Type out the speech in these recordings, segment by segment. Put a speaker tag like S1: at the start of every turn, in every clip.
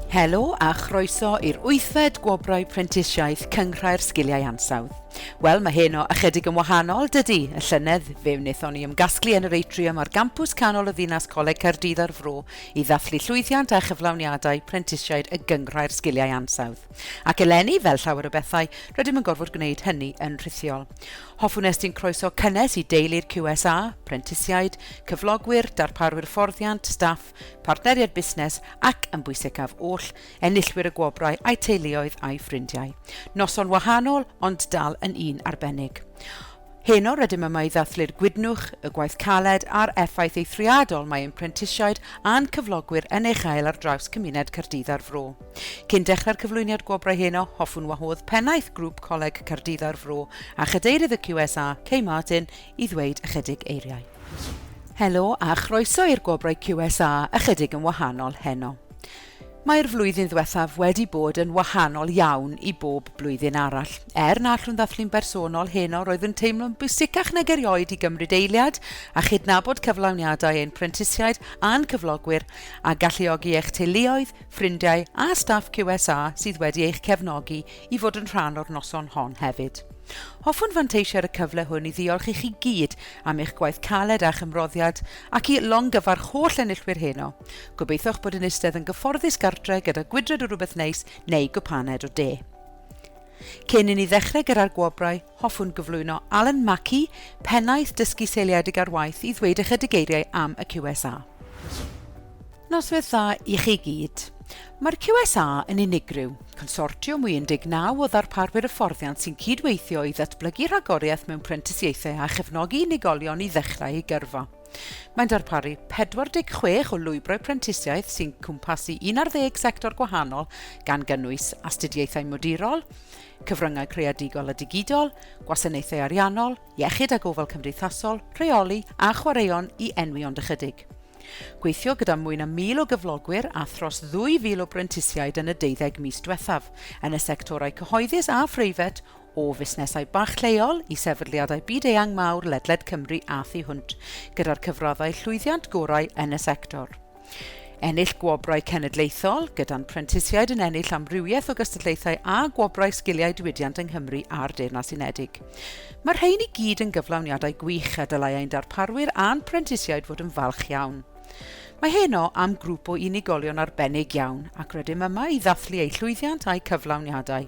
S1: Helo a chroeso i'r wythfed Gwobrau Prentisiaeth Cynghrair Sgiliau Ansawdd. Wel, mae heno ychydig yn wahanol, dydy. Y llynedd, fe wnaethon ni ymgasglu yn yr atrium ar gampws canol y ddinas Coleg Caerdydd ar Fro i ddathlu llwyddiant a chyflawniadau prentisiaid y Gynghrair Sgiliau Ansawdd. Ac eleni, fel llawer o bethau, rydym yn gorfod gwneud hynny yn rhithiol. Hoffwn estyn croeso cynnes i deulu'r QSA, prentisiaid, cyflogwyr, darparwyr fforddiant, staff, partneriaid busnes ac, yn bwysicaf oll, enillwyr y gwobrau a'u teuluoedd a'u ffrindiau. Noson wahanol, ond dal yn un arbennig. Heno rydym yma i ddathlu'r gwydnwch, y gwaith caled a'r effaith eithriadol mae ein prentisiaid a'n cyflogwyr yn ei chael ar draws cymuned Caerdydd a'r Fro. Cyn dechrau'r cyflwyniad gwobrau heno, hoffwn wahodd Pennaeth Grŵp Coleg Caerdydd a'r Fro a Chadeirydd y QSA, Kay Martin, i ddweud ychydig eiriau. Helo a chroeso i'r gwobrau QSA, ychydig yn wahanol heno. Mae'r flwyddyn ddiwethaf wedi bod yn wahanol iawn i bob blwyddyn arall. Er na allwn ddathlu'n bersonol heno, roedd yn teimlo'n bwysicach nag erioed i gymryd eiliad a chydnabod cyflawniadau ein prentisiaid a'n cyflogwyr a galluogi eich teuluoedd, ffrindiau a staff QSA sydd wedi eich cefnogi i fod yn rhan o'r noson hon hefyd. Hoffwn fanteisio ar y cyfle hwn i ddiolch i chi gyd am eich gwaith caled a'ch ymroddiad ac i longyfarch holl enillwyr heno. Gobeithiwch bod yn eistedd yn gyfforddus gartre gyda gwydred o rywbeth neis neu gwpaned o de. Cyn i ni ddechrau gyda'r gwobrau, hoffwn gyflwyno Alan Mackey, Pennaeth Dysgu Seiliedig ar Waith, i ddweud ychydig eiriau am y QSA. Noswyth dda i chi gyd. Mae'r QSA yn unigryw, consortiwm i 19 o ddarparwyr hyfforddiant sy'n cydweithio i ddatblygu rhagoriaeth mewn prentisiaethau a chefnogi unigolion i ddechrau eu gyrfa. Mae'n darparu 46 o lwybrau prentisiaeth sy'n cwmpasu 11 sector gwahanol gan gynnwys astudiaethau modurol, cyfryngau creadigol a digidol, gwasanaethau ariannol, iechyd a gofal cymdeithasol, rheoli a chwaraeon i enwi ond ychydig. Gweithio gyda mwy na 1,000 o gyflogwyr a thros 2,000 o brentisiaid yn y deuddeg mis diwethaf, yn y sectorau cyhoeddus a phreifat, o fusnesau bach lleol i sefydliadau byd-eang mawr ledled Cymru a thu hwnt, gyda'r cyfraddau llwyddiant gorau yn y sector. Ennill gwobrau cenedlaethol, gyda'n prentisiaid yn ennill amrywiaeth o gystadlaethau a gwobrau sgiliau diwydiant yng Nghymru a'r Deyrnas Unedig. Mae'r rhain i gyd yn gyflawniadau gwych a dylai ein darparwyr a'n prentisiaid fod yn falch iawn. Mae heno am grŵp o unigolion arbennig iawn ac rydym yma i ddathlu eu llwyddiant a'u cyflawniadau.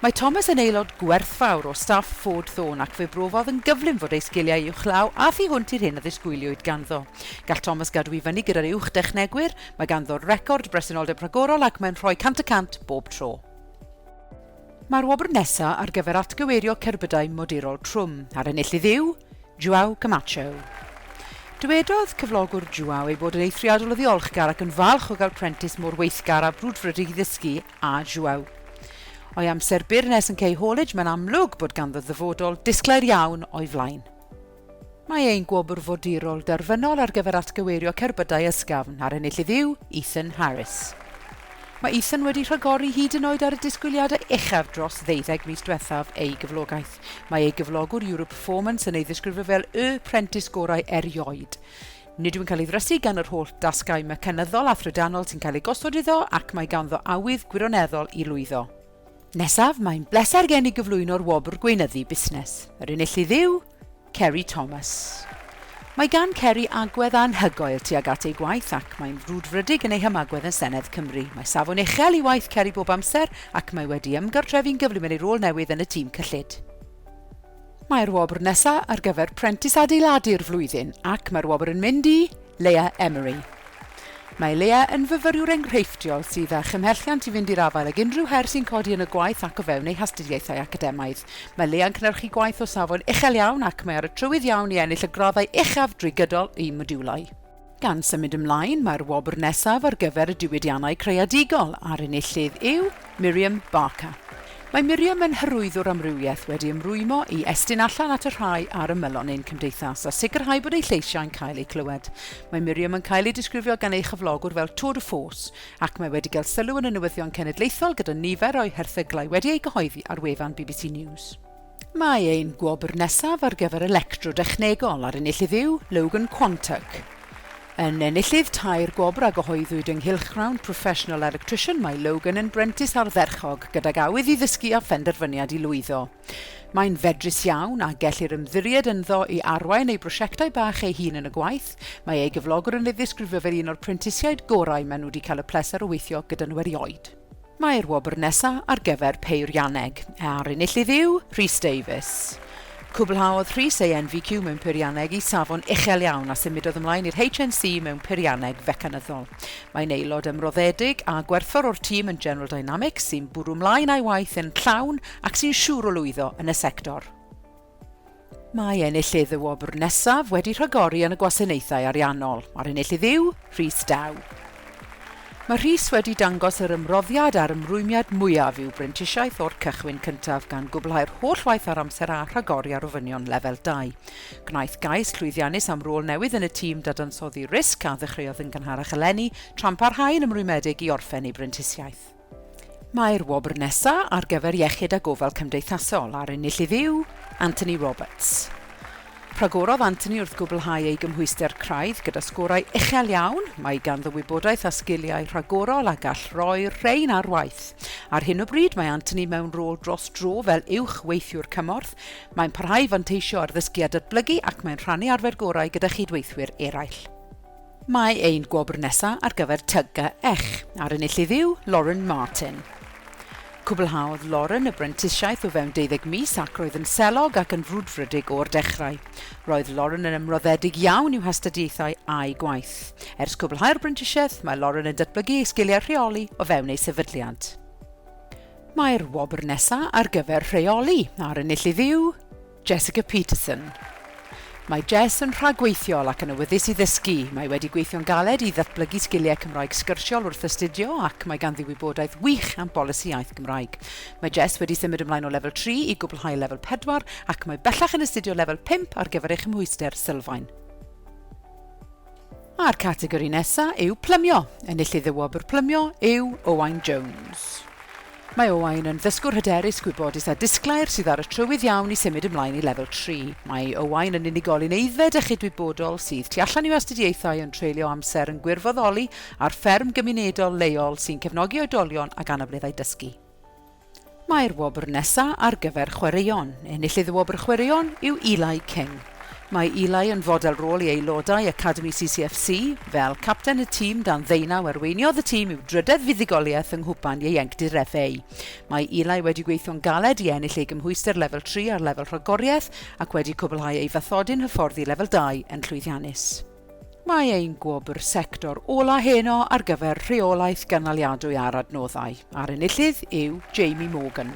S1: Mae Thomas yn aelod gwerthfawr o staff Ford Thorn ac fe brofodd yn gyflym fod ei sgiliau uwchlaw a thu hwnt i'r hyn a ddisgwyliwyd ganddo. Gall Thomas gadw i fyny gyda'r uwch dechnegwyr, mae ganddo record bresenoldeb rhagorol ac mae'n rhoi 100 y cant bob tro. Mae'r wobr nesaf ar gyfer atgyweirio cerbydau modurol trwm, a'r enillydd yw Joao Camacho. Dywedodd cyflogwr Joao ei bod yn eithriadol o ddiolchgar ac yn falch o gael prentis mor weithgar a brwdfrydig i ddysgu a João. O'i amser byr nes yn Key Haulage, mae'n amlwg bod ganddo ddyfodol disglair iawn o'i flaen. Mae ein gwobr fodurol derfynol ar gyfer atgyweirio cerbydau ysgafn a'r enillydd yw Ethan Harris. Mae Ethan wedi rhagori hyd yn oed ar y disgwyliadau uchaf dros ddeuddeg mis diwethaf ei gyflogaeth. Mae ei gyflogwr Europe Performance yn ei ddisgrifio fel y prentis gorau erioed. Nid yw'n cael ei ddrysu gan yr holl dasgau mecanyddol a thrydanol sy'n cael eu gosod iddo ac mae ganddo awydd gwirioneddol i lwyddo. Nesaf, mae'n bleser gen i gyflwyno'r wobr Gweinyddu Busnes. Yr enillydd yw Ceri Thomas. Mae gan Ceri agwedd anhygoel tuag at ei gwaith ac mae'n frwdfrydig yn ei hymagwedd yn Senedd Cymru. Mae safon uchel i waith Ceri bob amser ac mae wedi ymgartrefu'n gyflym yn ei rôl newydd yn y tîm cyllid. Mae'r wobr nesa ar gyfer Prentis Adeiladu'r Flwyddyn ac mae'r wobr yn mynd i Leah Emery. Mae Leah yn fyfyriwr enghreifftiol sydd â chymhelliant i fynd i'r afael ag unrhyw her sy'n codi yn y gwaith ac o fewn ei hastudiaethau academaidd. Mae Leah'n cynhyrchu gwaith o safon uchel iawn ac mae ar y trywydd iawn i ennill y graddau uchaf drwy gydol ei modiwlau. Gan symud ymlaen, mae'r wobr nesaf ar gyfer y diwydiannau creadigol a'r enillydd yw Miriam Barker. Mae Miriam yn hyrwyddwr amrywiaeth wedi ymrwymo i estyn allan at y rhai ar ymylon ein cymdeithas a sicrhau bod ei lleisiau'n cael eu clywed. Mae Miriam yn cael ei disgrifio gan ei chyflogwr fel tour de force ac mae wedi cael sylw yn y newyddion cenedlaethol gyda nifer o'i herthyglau wedi eu cyhoeddi ar wefan bbc News. Mae ein gwobr nesaf ar gyfer electro dechnegol a'r enillydd yw Logan Quantock. Yn enillydd tair gwobr a gyhoeddwyd yng nghylchgrawn Professional Electrician mae Logan yn brentis ardderchog gydag awydd i ddysgu a phenderfyniad i lwyddo. Mae'n fedrus iawn a gellir ymddiried ynddo i arwain ei brosiectau bach ei hun yn y gwaith. Mae ei gyflogwr yn ei ddisgrifio fel un o'r prentisiaid gorau maen nhw wedi cael y pleser o weithio gyda nhw erioed. Mae'r wobr nesa ar gyfer peirianneg, a'r enillydd yw Rhys Davies. Cwblhaodd Rhys ei NVQ mewn peirianneg i safon uchel iawn a symudodd ymlaen i'r HNC mewn peirianneg fecanyddol. Mae'n aelod ymroddedig a gwerthfawr o'r tîm yn General Dynamics sy'n bwrw mlaen a'i waith yn llawn ac sy'n siŵr o lwyddo yn y sector. Mae enillydd y wobr nesaf wedi rhagori yn y gwasanaethau ariannol, a'r enillydd yw Rhys Daw. Mae Rhys wedi dangos yr ymroddiad a'r ymrwymiad mwyaf i'w brentisiaeth o'r cychwyn cyntaf gan gwblhau'r holl waith ar amser a rhagori ar ofynion lefel 2. Gwnaeth gais llwyddiannus am rôl newydd yn y tîm dadansoddi risg a ddechreuodd yn gynharach eleni tra'n parhau yn ymrwymedig i orffen ei brentisiaeth. Mae'r wobr nesa ar gyfer Iechyd a Gofal Cymdeithasol a'r ennill ef yw Anthony Roberts. Rhagorodd Anthony wrth gwblhau ei gymhwyster craidd gyda sgorau uchel iawn, mae ganddo wybodaeth a sgiliau rhagorol a gall roi'r rhain ar waith. Ar hyn o bryd mae Anthony mewn rôl dros dro fel Uwch Weithiwr Cymorth, mae'n parhau i fanteisio ar ddysgu a datblygu ac mae'n rhannu arfer gorau gyda chyd-weithwyr eraill. Mae ein gwobr nesa ar gyfer Tug a Ech a'r enillydd yw Lauren Martin. Cwblhaodd Lauren y brentisiaeth o fewn deuddeg mis ac roedd yn selog ac yn frwdfrydig o'r dechrau. Roedd Lauren yn ymroddedig iawn i'w hastudiaethau a'i gwaith. Ers cwblhau'r brentisiaeth, mae Lauren yn datblygu ei sgiliau rheoli o fewn ei sefydliad. Mae'r wobr nesa ar gyfer Rheoli a'r enillydd yw. Jessica Peterson Mae Jess yn rhagweithiol ac yn awyddus i ddysgu. Mae wedi gweithio'n galed i ddatblygu sgiliau Cymraeg sgyrsiol wrth astudio ac mae ganddi wybodaeth wych am bolisi iaith Gymraeg. Mae Jess wedi symud ymlaen o Lefel Tri i gwblhau Lefel Pedwar ac mae bellach yn astudio Lefel Pump ar gyfer ei chymhwyster sylfaen. A'r categori nesa yw Plymio. Enillydd y wobr Plymio yw Owain Jones. Mae Owain yn ddysgwr hyderus, gwybodus a disglair sydd ar y trywydd iawn i symud ymlaen i lefel 3. Mae Owain yn unigolyn aeddfed a chydwybodol sydd tu allan i'w astudiaethau ond treulio amser yn gwirfoddoli ar fferm gymunedol leol sy'n cefnogi oedolion ag anableddau dysgu. Mae'r wobr nesa ar gyfer chwaraeon. Enillydd y wobr chwaraeon yw Eli King. Mae Eli yn fodel rôl i aelodau Academi CCFC. Fel capten y tîm dan ddeunaw arweiniodd y tîm i'w drydedd fuddugoliaeth yng Nghwpan Ieuenctid FA. Mae Eli wedi gweithio'n galed i ennill ei gymhwyster lefel tri ar lefel rhagoriaeth ac wedi cwblhau ei fathodyn hyfforddi lefel dau yn llwyddiannus. Mae ein gwobr sector ola' heno ar gyfer rheolaeth gynaliadwy ar adnoddau, a'r enillydd yw Jamie Morgan.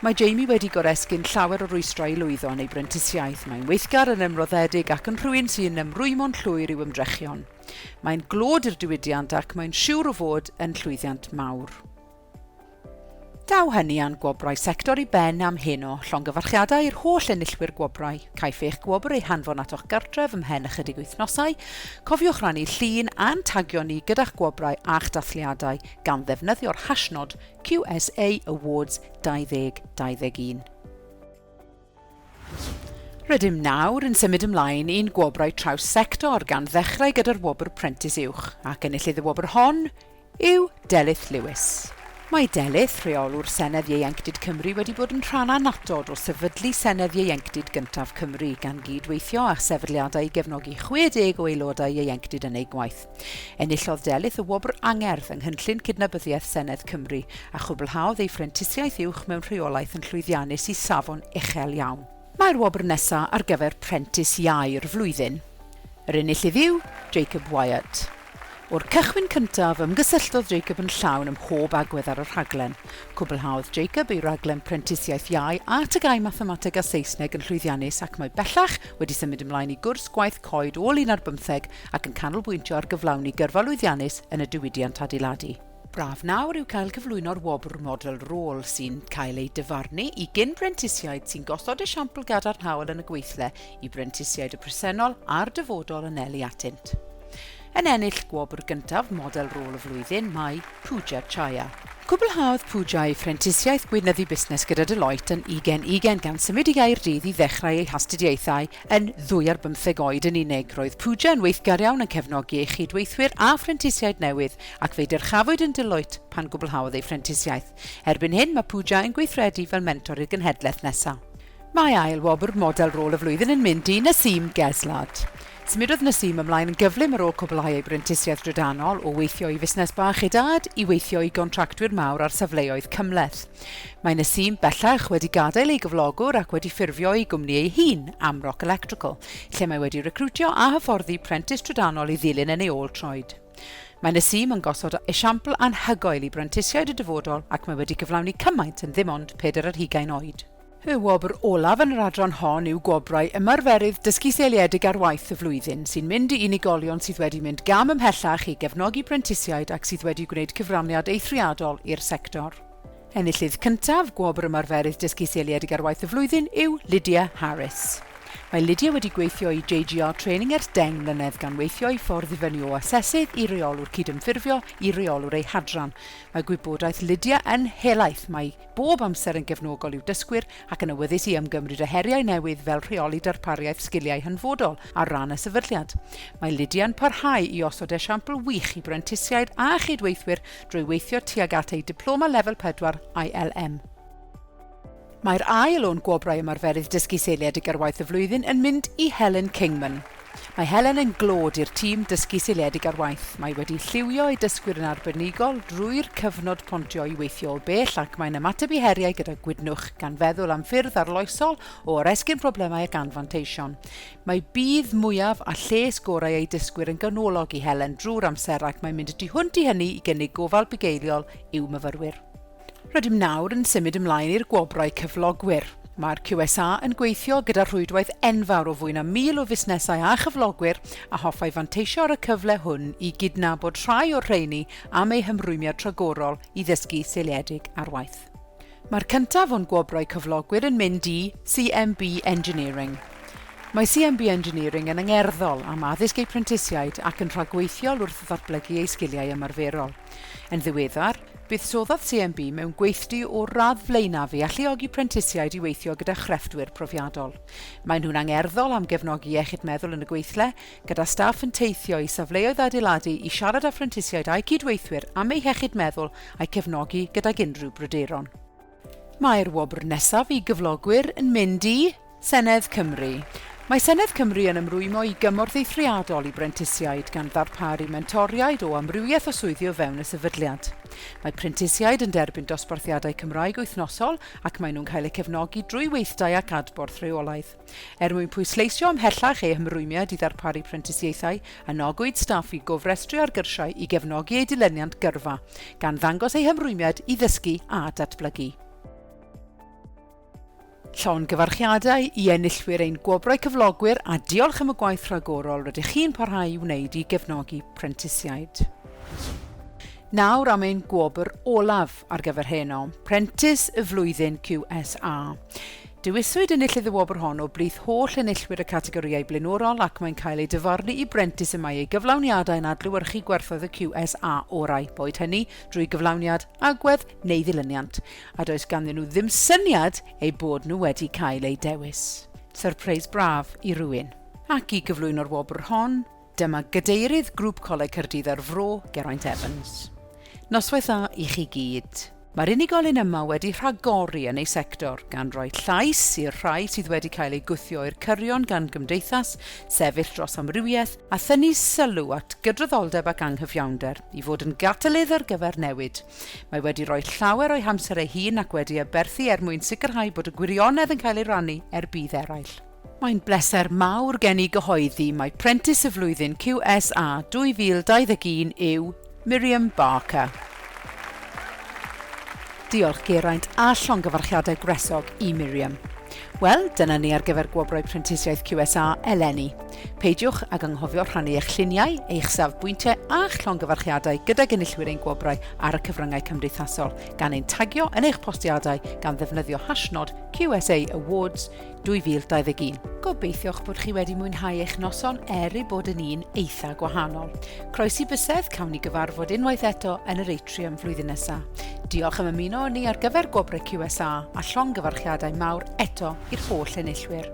S1: Mae Jamie wedi goresgyn llawer o rwystrau i lwyddo yn ei brentisiaeth, mae'n weithgar, yn ymroddedig ac yn rhywun sy'n ymrwymo'n llwyr i'w ymdrechion. Mae'n glod i'r diwydiant ac mae'n siwr o fod yn llwyddiant mawr. Daw hynny a'n gwobrau sector i ben am heno. Llongyfarchiadau i'r holl enillwyr gwobrau. Caiff eich gwobr ei hanfon atoch gartref ymhen ychydig wythnosau. Cofiwch rannu llun a'n tagio ni gyda'ch gwobrau a'ch dathliadau gan ddefnyddio'r hashnod QSA Awards 2021. Rydym nawr yn symud ymlaen i'n gwobrau traws-sector gan ddechrau gyda'r wobr Prentis Uwch ac enillydd y wobr hon yw Delyth Lewis. Mae Delyth, Rheolwr Senedd Ieuenctid Cymru wedi bod yn rhan annatod o sefydlu Senedd Ieuenctid gyntaf Cymru gan gyd-weithio â sefydliadau i gefnogi 60 o aelodau ieuenctid yn eu gwaith. Enillodd Delyth y Wobr Angerdd yng Nghynllun Cydnabyddiaeth Senedd Cymru a chwblhaodd ei Phrentisiaeth Uwch mewn Rheolaeth yn llwyddiannus i safon uchel iawn. Mae'r wobr nesa ar gyfer Prentis Iau'r Flwyddyn. Yr enillydd yw Jacob Wyatt. O'r cychwyn cyntaf, ymgysylltodd Jacob yn llawn ym mhob agwedd ar y rhaglen. Cwblhaodd Jacob ei raglen Prentisiaeth Iau a TGAU Mathemateg a Saesneg yn llwyddiannus ac mae bellach wedi symud ymlaen i gwrs Gwaith Coed ôl un ar bymtheg ac yn canolbwyntio ar gyflawni gyrfa lwyddiannus yn y diwydiant adeiladu. Braf nawr yw cael cyflwyno'r wobr Model Rôl sy'n cael ei dyfarnu i gyn-brentisiaid sy'n gosod esiampl gadarnhaol yn y gweithle i brentisiaid y presennol a'r dyfodol anelu atynt. Yn ennill gwobr gyntaf Model Rôl y Flwyddyn mae Pooja Chaya. Cwblhaodd Pooja ei phrentisiaeth gweinyddu busnes gyda Deloitte yn ugain ugain gan symud i Gaerdydd i ddechrau ei hastudiaethau Yn ddwy ar bymtheg oed yn unig, roedd Pooja yn weithgar iawn yn cefnogi ei chyd-weithwyr a phrentisiaid newydd ac fe'i dyrchafwyd yn Deloitte pan gwblhaodd ei phrentisiaeth. Erbyn hyn, mae Pooja yn gweithredu fel mentor i'r genhedlaeth nesaf. Mae ail wobr Model Rôl y Flwyddyn yn mynd i Naseem Geslard. Symudodd Naseem ymlaen yn gyflym ar ôl cwblhau ei brentisiaeth drydanol, o weithio i fusnes bach ei dad i weithio i gontractwyr mawr ar safleoedd cymhleth. Mae Nasim bellach wedi gadael ei gyflogwr ac wedi ffurfio ei gwmni ei hun, Amrock Electrical, lle mae wedi recriwtio a hyfforddi prentis trydanol i ddilyn yn ei ôl troed. Mae Nasim yn gosod esiampl anhygoel i brentisiaid y dyfodol ac mae wedi cyflawni cymaint yn ddim ond pedair ar hugain oed. Y wobr olaf yn yr adran hon yw Gwobrau Ymarferydd Dysgu Seiliedig ar Waith y Flwyddyn, sy'n mynd i unigolion sydd wedi mynd gam ymhellach i gefnogi prentisiaid ac sydd wedi gwneud cyfraniad eithriadol i'r sector. Enillydd cyntaf Gwobr Ymarferydd Dysgu Seiliedig ar Waith y Flwyddyn yw Lydia Harris. Mae Lydia wedi gweithio i JGR Training ers deng mlynedd gan weithio ei ffordd i fyny o asesydd i reolwr cydymffurfio i reolwr ei hadran. Mae gwybodaeth Lydia yn helaeth, mae bob amser yn gefnogol i'w dysgwyr ac yn awyddus i ymgymryd â heriau newydd fel rheoli darpariaeth sgiliau hanfodol ar ran y sefydliad. Mae Lydia'n parhau i osod esiampl wych i brentisiaid a chydweithwyr drwy weithio tuag at ei Diploma Lefel 4 ILM. Mae'r ail o'n Gwobrau Ymarferydd Dysgu Seiliedig ar Waith y Flwyddyn yn mynd i Helen Kingman. Mae Helen yn glod i'r tîm dysgu seiliedig ar waith. Mae wedi lliwio ei dysgwyr yn arbenigol drwy'r cyfnod pontio i weithio o bell ac mae'n ymateb i heriau gyda gwydnwch, gan feddwl am ffyrdd arloesol o oresgyn problemau ac anfanteision. Mae budd mwyaf a lles gorau ei dysgwyr yn ganolog i Helen drwy'r amser ac mae'n mynd y tu hwnt i hynny i gynnig gofal bugeiliol i'w myfyrwyr. Rydym nawr yn symud ymlaen i'r gwobrau cyflogwyr. Mae'r QSA yn gweithio gyda rhwydwaith enfawr o fwy na 1,000 o fusnesau a chyflogwyr a hoffai fanteisio ar y cyfle hwn i gydnabod rhai o'r rheini am eu hymrwymiad rhagorol i ddysgu seiliedig ar waith. Mae'r cyntaf o'n gwobrau cyflogwyr yn mynd i CMB Engineering. Mae CMB Engineering yn angerddol am addysg eu prentisiaid ac yn rhagweithiol wrth ddatblygu eu sgiliau ymarferol. Yn ddiweddar, Buddsoddodd CMB mewn gweithdy o'r radd flaenaf i alluogi prentisiaid i weithio gyda chrefftwyr profiadol. Maen nhw'n angerddol am gefnogi iechyd meddwl yn y gweithle, gyda staff yn teithio i safleoedd adeiladu i siarad â phrentisiaid a'u cyd-weithwyr am eu hiechyd meddwl a'u cefnogi gydag unrhyw bryderon. Mae'r wobr nesaf i gyflogwyr yn mynd i Senedd Cymru. Mae Senedd Cymru yn ymrwymo i gymorth eithriadol i brentisiaid gan ddarparu mentoriaid o amrywiaeth o swyddi o fewn y sefydliad. Mae prentisiaid yn derbyn dosbarthiadau Cymraeg wythnosol ac maen nhw'n cael eu cefnogi drwy weithdai ac adborth rheolaidd. Er mwyn pwysleisio ymhellach eu hymrwymiad i ddarparu prentisiaethau, anogwyd staff i gofrestru ar gyrsiau i gefnogi eu dilyniant gyrfa, gan ddangos eu hymrwymiad i ddysgu a datblygu. Llongyfarchiadau i enillwyr ein Gwobrau Cyflogwyr a diolch am y gwaith rhagorol rydych chi'n parhau i wneud i gefnogi prentisiaid. Nawr am ein gwobr olaf ar gyfer heno, Prentis y Flwyddyn QSA. Dewiswyd enillydd y wobr hon o blith holl enillwyr y categorïau blaenorol ac mae'n cael ei dyfarnu i brentis y mae ei gyflawniadau yn adlewyrchu gwerthoedd y QSA orau, boed hynny drwy gyflawniad, agwedd neu ddilyniant, a does ganddyn nhw ddim syniad eu bod nhw wedi cael eu dewis. Syrpreis braf i rywun. Ac i gyflwyno'r wobr hon, Dyma Gadeirydd Grŵp Coleg Caerdydd a'r Fro, Geraint Evans. Noswaith dda i chi gyd. Mae'r unigolyn yma wedi rhagori yn ei sector, gan roi llais i'r rhai sydd wedi cael eu gwthio i'r cyrion gan gymdeithas sefyll dros amrywiaeth a thynnu sylw at gydraddoldeb ac anghyfiawnder i fod yn gatalydd ar gyfer newid. Mae wedi rhoi llawer o'i hamser ei hun ac wedi aberthu er mwyn sicrhau bod y gwirionedd yn cael ei rannu er budd eraill. Mae'n bleser mawr gen i gyhoeddi mai Prentis y Flwyddyn QSA 2021 yw Miriam Barker. Diolch Geraint a llongyfarchiadau gwresog i Miriam. Wel, dyna ni ar gyfer Gwobrau Prentisiaeth QSA eleni. Peidiwch ag anghofio rhannu eich lluniau, eich safbwyntiau a'ch llongyfarchiadau gydag enillwyr ein gwobrau ar y cyfryngau cymdeithasol, gan ein tagio yn eich postiadau gan ddefnyddio hashnod QSA Awards 2021. Gobeithiwch bod chi wedi mwynhau eich noson er ei bod yn un eitha gwahanol. Croesi bysedd, cawn ni gyfarfod unwaith eto yn yr atrium flwyddyn nesaf. Diolch am ymuno â ni ar gyfer gwobrau QSA a llongyfarchiadau mawr eto i'r holl enillwyr.